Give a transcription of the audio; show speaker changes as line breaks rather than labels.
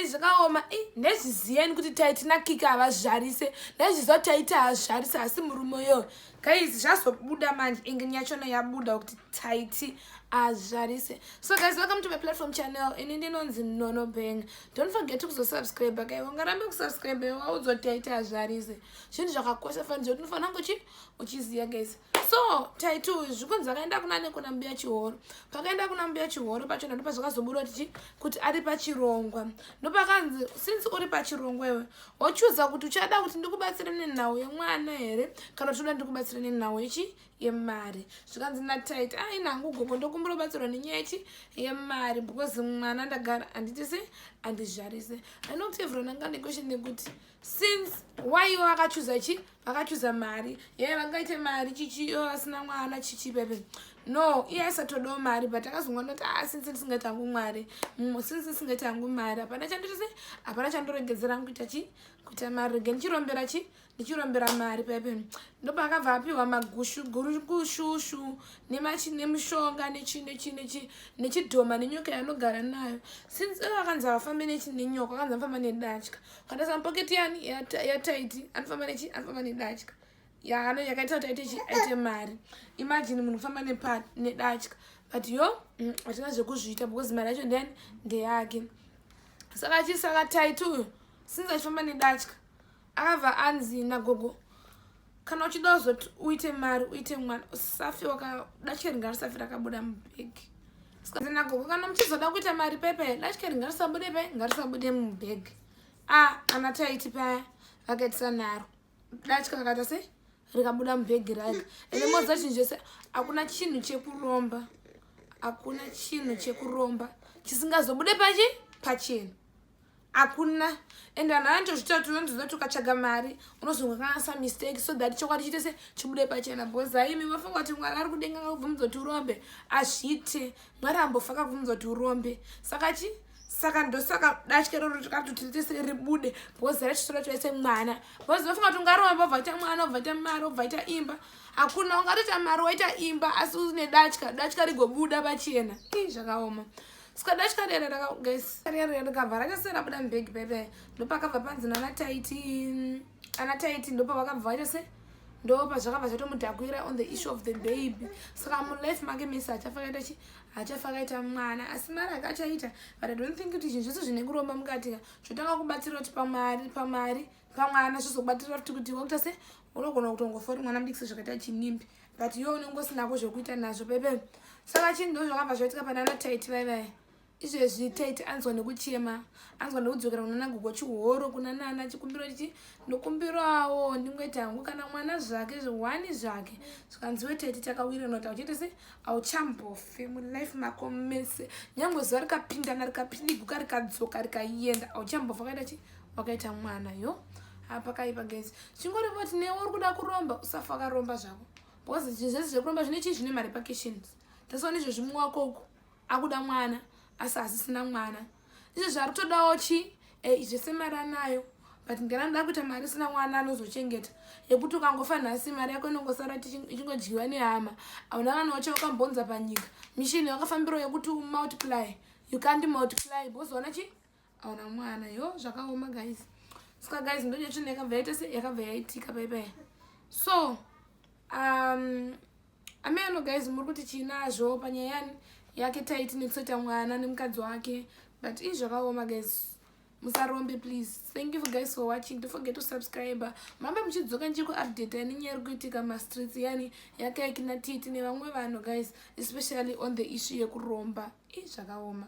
zvakaoma ndezviziyeni kuti taitina kiki havazvarise ndezviziva kuti taiti hazvarise asi murume yo guys zvazobuda manje inge nyachona yabuda kuti taiti hazvarise so guys welcome to my platform channel ini ndinonzi nono bang don't forget kuzosubscribe kai ungarambe kusubscribe waudzoti taiti hazvarise zvinhu zvakakosha fanizve kuti unofanira ngochi uchiziva guys so taitu zvikunzi vakaenda kuna nekuna mbuya chihoro pakaenda kuna mbuya chihoro pachona ndopa zvakazobuda kuti kuti ari pachirongwa ndopakanzi since uri pachirongwa iwe wochuza kuti uchada kuti ndikubatsire nenhau yemwana here kana uchiuda ndikubatsire nenhau yechi yemari zvikanzi natit ai nangu gogo ndokumbira ubatsirwa nenyaya yechi yemari because mwana ndagara anditisi andizvarise anokuti evron anga nekweshe nekuti since waiva akachuza chii vakachuza mari yee vangaite mari chichi yo asina mwana chichi pepe no iye aisatodawo mari but akazongoona kuti a ah, since ndisingaita hangu mwari mm, since ndisingaita hangu mari hapana chanditise hapana chandoregedzera hangu kuita chi kuita mari rege ndichirombera chi ndichirombera mari pepe ndopa akabva apiwa magushu gushushu nemachi nemushonga nechi nechi nechi nechidhoma nenyoka yanogara nayo since akanzi avafambe nechi nenyoka akanzi afamba nedatya ukataisa mupoketi yani yataiti anofamba nechi anofamba nedatya yaano yakaita kuti aite chi aite mari imagine munhu kufamba nepa nedatya but yo mm, hatina mm, zvekuzviita because mari yacho ndiyani ndeyake saka achii saka taiti uyo since achifamba nedatya akabva anzi nagogo kana uchida uzoti uite mari uite mwana usafi wakadacheringa risafi rakabuda mubhegi sikazinagoko kana muchizoda kuita mari pepe dachikeri ngarisabude pe ngarisabude mubhegi a ah, ana taiti paya vakaitisa naro dachika kakaita sei rikabuda mubhegi raga ende moza chinhu chese hakuna chinhu chekuromba hakuna chinhu chekuromba chisingazobude pachi pachena hakuna and vanhu vanotozvitaura kuti unonzwa kuti ukatsvaga mari unozonga kanasa mistake so that chokwadi chiite se chibude pachena bcause haimi mafunga kuti mwari ari kudenga kakubvumidza kuti urombe azviite mwari ambofa kakubvumidza kuti urombe saka chi saka ndosaka datya roro tikatotiritese ribude bcause rachisora twaise mwana bcause vafunga kuti ungaromba obvaita mwana obvaita mari obvaita imba hakuna ungatoita mari waita imba asi une datya datya rigobuda pachena ii zvakaoma sikada chikadera ndakagesi kadera ndikabva rakese rabuda mubhegi bebe ndopakabva panzi nana taiti ana taiti ndopavakabva vachese ndopa zvakabva zvatomudhakwira on the issue of the baby saka mulife make misi achafakaita chi achafakaita mwana asi mari akachaita but i don't think kuti zvinhu zvese zvine kuromba mukatika zvotanga kubatsira kuti pamari pamari pamwana zvizokubatsira futi kuti wakuita se unogona kutongofori mwana mudikisi zvakaita chinimbi but iwe unenge usinako zvekuita nazvo bebe saka chinhu ndo zvakabva zvaitika pane ana taiti vaivaya izvezvi taiti anzwa nekuchema anzwa nekudzokera kunana gogo chihoro kuna nana chikumbiro chichi ndokumbirawo ndingoita hangu kana mwana zvake zvihwani zvake zvikanziwe taiti takawiranwa ta uchiita se auchambofe mulife mako mese nyange zuva rikapindana rikapiniguka rikadzoka rikayenda auchambofe kaita chii wakaita mwana yo hapakaipa guys chingori voti newe uri kuda kuromba usafa wakaromba zvako because zvese zvekuromba zvine chii zvine marepercussions tasawa nezvezvi muwako uku akuda mwana asi hazisina mwana izvo zvari kutodawo chii eh, zvese mari anayo but ngana ndoda kuita mari isina mwana anozochengeta yekuti ukangofa nhasi mari yako inongosara ichingodyiwa nehama hauna kana wacha wakambonza panyika mishini yakafambiro yekuti umultiply you can't multiply bozoona chii aona mwana yo zvakaoma guys ska guys ndodya chinhu yakabva yaita se yakabva yaitika paipaya so um, ameno guys muri kuti chiinazvo panyaya yake taiti nekuseta mwana nemukadzi wake but ii zvakaoma guys musarombe please thank you guys for watching don't forget to subscribe mambe muchidzoka ndichiri kuupdate yani nyaya iri kuitika mastreets yani yakaikina titi nevamwe vanhu guys especially on the issue yekuromba ii zvakaoma